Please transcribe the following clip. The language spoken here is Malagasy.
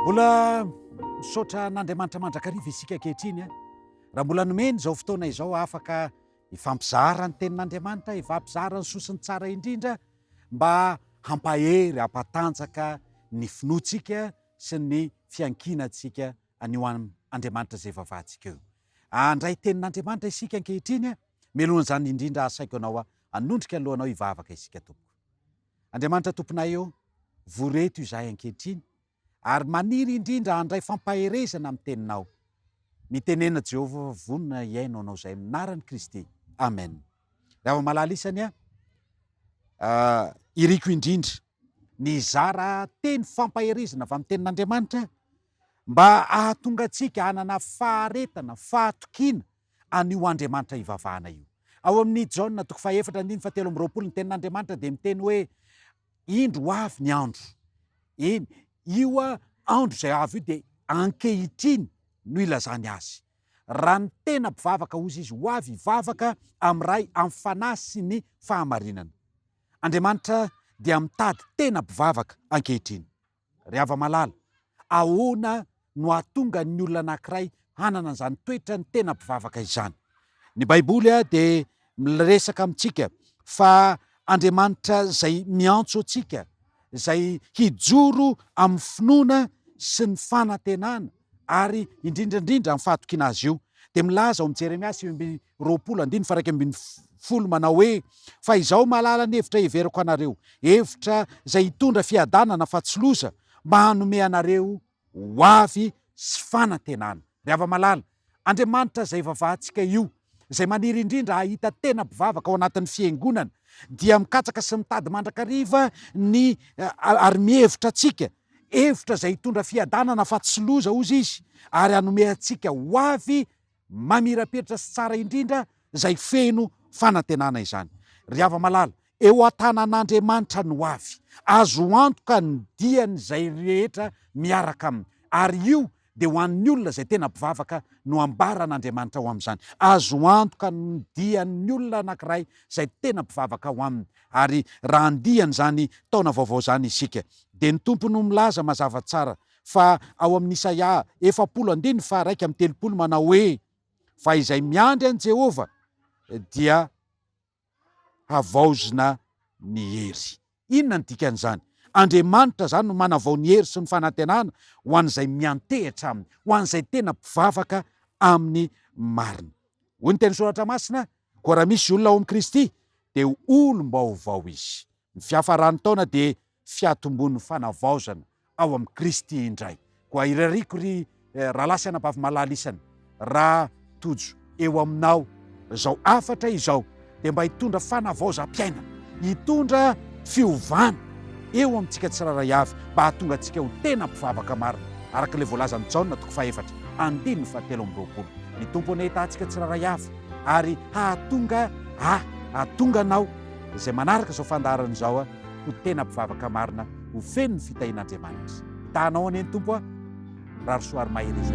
Mbola misaotra an'Andriamanitra mandrakariva isika ankehitriny eh. raha mbola nomeny izao fotoana izao afaka hifampizara ny tenin'Andriamanitra, hifampizara ny soa sy ny tsara indrindra mba hampahery, hampatanjaka ny finoantsika sy ny fiankinantsika an'io Andriamanitra izay vavantsika io. Andray tenin'Andriamanitra isika ankehitriny, melohan'izany indrindra asaiko anao hanondrika ny lohanao hivavaka isika tompoko. Andriamanitra Tomponay ô, vory eto izahay ankehitriny ary maniry indrindra handray fampaherezana amin'ny Teninao. Mitenena Jehovah fa vonona hihaino anao izahay amin'ny anaran'i Kristy. Amen. Ry havana malala isany a, iriko indrindra ny hizara teny fampaherezana avy amin'ny Tenin'Andriamanitra mba hahatonga antsika hanana faharetana, fahatokiana, an'io Andriamanitra ivavahana io. Ao amin'ny Jaona toko fahefatra andininy fahatelo amby roapolo, ny tenin'Andriamanitra dia miteny hoe, Indro ho avy ny andro. Eny, io andro izay avy io dia ankehitriny no ilazany azy. Raha ny tena mpivavaka, hozy izy, ho avy hivavaka amin'ny Ray amin'ny fanahy sy ny fahamarinana. Andriamanitra dia mitady tena mpivavaka ankehitriny. Ry hava-malala, ahoana no hahatonga ny olona anankiray hanana izany toetrany tena mpivavaka izany? Ny Baiboly dia miresaka amintsika fa Andriamanitra izay miantso antsika, izay hijoro amin'ny finoana sy ny fanantenana ary indrindra indrindra amin'ny fahatokiana Azy io. Dia milaza ao amin'ny Jeremia sivy ambin'ny roapolo andininy faha iraika ambin'ny folo manao hoe, Fa izao mahalala ny hevitra heveriko anareo, hevitra izay hitondra fiadanana fa tsy loza, mba hanome anareo ho avy sy fanantenana. Ry hava-malala, Andriamanitra izay vavahantsika io, izay maniry indrindra hahita tena mpivavaka ao anatin'ny Fiangonana, dia mikatsaka sy mitady mandrakariva ny ary mihevitra antsika, hevitra izay hitondra fiadanana fa tsy loza, hozy Izy, ary hanome antsika ho avy Mamirapiratra sy tsara indrindra izay feno fanantenana izany. Ry hava-malala, eo an-tanan'Andriamanitra ny ho avy. Azo antoka ny dian'izay rehetra miaraka aminy. Ary io dia ho an'ny olona izay tena mpivavaka no ambaran'Andriamanitra ho amin'izany. Azo antoka ny dian'ny olona anankiray izay tena mpivavaka ho aminy. Ary raha andian'izany taona vaovao izany isika, dia ny Tompo no milaza mazava tsara Fa ao amin'ny Isaia efapolo andininy faharaika amby telopolo manao hoe, Fa izay miandry an'i Jehovah dia havaozina ny hery. Inona ny dikan'izany? Andriamanitra izany no manavao ny hery sy ny fanantenana ho an'izay miantehitra aminy, ho an'izay tena mpivavaka amin'ny marina. Hoy ny teny soratra masina, Koa raha misy olona ao amin'i Kristy, dia olom-baovao izy. Ny fiafaran'ny taona dia fiatombon'ny fanavaozana ao amin'i Kristy indray. Koa irariako ry rahalahy sy anabavy malala isany raha tojo eo aminao izao hafatra izao dia mba hitondra fanavaozam-piainana, hitondra fiovana eo amintsika tsirairay avy mba hahatonga antsika ho tena mpivavaka marina araka ilay voalazan'i Jaona toko fahefatra andininy fahatelo amby roapolo. Ny Tompo anie hitaha antsika tsirairay avy ary hahatonga ahy, hahatonga anao izay manaraka izao fandaharana izao ho tena mpivavaka marina ho feno ny fitahian'Andriamanitra. Taha anao anie ny Tompo a! Rarosoa ary mahereza.